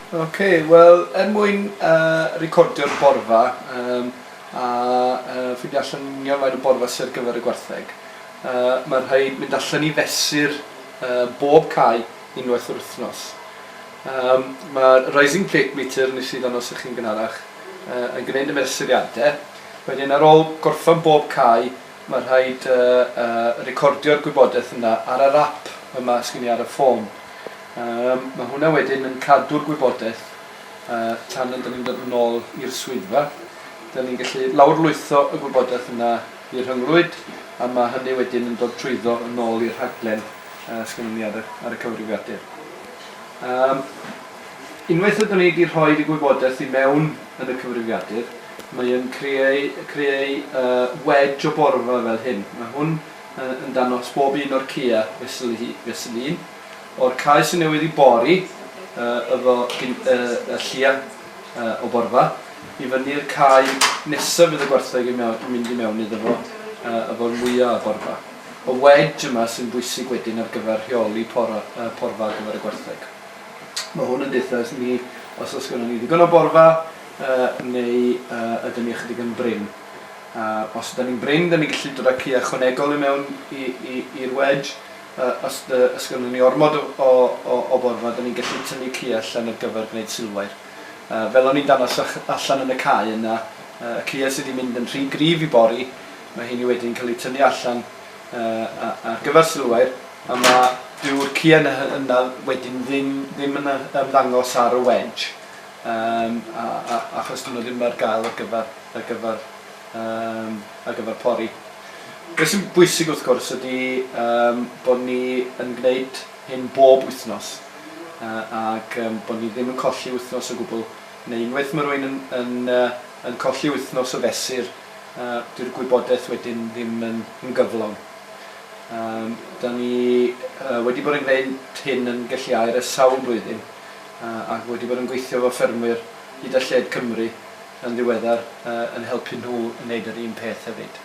Ok, wel, er mwyn uh, recordio'r borfa um, a uh, ffindio allan union faint o borfa sydd ar gyfer y gwartheg, uh, mae rhaid mynd allan i fesur uh, bob cae unwaith yr wythnos. Um, mae Rising Plate Meter nes i ddanos ych chi'n gynharach uh, yn gwneud y mesuriadau. Wedyn ar ôl gorffan bob cae, Mae rhaid recordio'r gwybodaeth yna ar yr ap yma sgin i ar y ffôn. Yym, mae hwnna wedyn yn cadw'r gwybodaeth tan yn dyn ni'n dod yn ôl i'r swyddfa. Dyn ni'n gallu lawrlwytho y gwybodaeth yna i'r rhyngrwyd a mae hynny wedyn yn dod trwyddo yn ôl i'r rhaglen sgynnon ni ar y ar y cyfrifiadur. Yym, unwaith ydyn ni 'di rhoid y gwybodaeth i mewn yn y cyfrifiadur, Mae yn creu, creu yy wedge o borfa fel hyn. Mae hwn yy yn dangos bob un o'r Kia fesul hi, fesul un. O'r cae sy'n newydd i bori yy efo gin yy y llia yy o borfa, i fyny'r cae nesa fydd y gwartheg yn mewn, yn mynd i mewn iddo fo yy efo'r mwya o borfa. Y wedge yma sy'n bwysig wedyn ar gyfer rheoli pora yy porfa ar gyfer y gwartheg. Ma' hwn yn deutha ni os o's gynnon ni ddigon o borfa, Yy, neu yy, ydyn ni ychydig yn brin? A os ydyn ni'n brin, dyn ni'n gallu dod â ci ychwanegol i mewn i i i'r wedge. Yy, os dy- os gynnon ni ormod o o o o borfa, dyn ni'n gallu tynnu ci allan ar gyfer gwneud silwair. Yy, fel o'n i'n dangos ych- allan yn y cae yna, yy, y cïe sy 'di mynd yn rhy gryf i bori, ma' heini wedyn yn ca'l 'u tynnu allan yy a- ar gyfer silwair, a ma'... Dyw'r cïe 'na hy- yna wedyn ddim ddim yn yy ymddangos ar y wedge. Yym a a achos dyw nhw ddim ar gael ar gyfer ar gyfer yym ar gyfer pori. Be' sy'n bwysig wrth gwrs ydy yym bod ni yn gwneud hyn bob wythnos yy ag yym bod ni ddim yn colli wythnos o gwbl neu unwaith ma' rywun yn yn yy yn colli wythnos o fesur yy dyw'r gwybodaeth wedyn ddim yn yn gyflawn. Yym 'dan ni yy wedi bod yn gwneud hyn yn gelliau'r ers sawl blwyddyn. ac wedi bod yn gweithio efo ffermwyr hyd a lled Cymru yn ddiweddar yn helpu nhw i wneud yr un peth hefyd.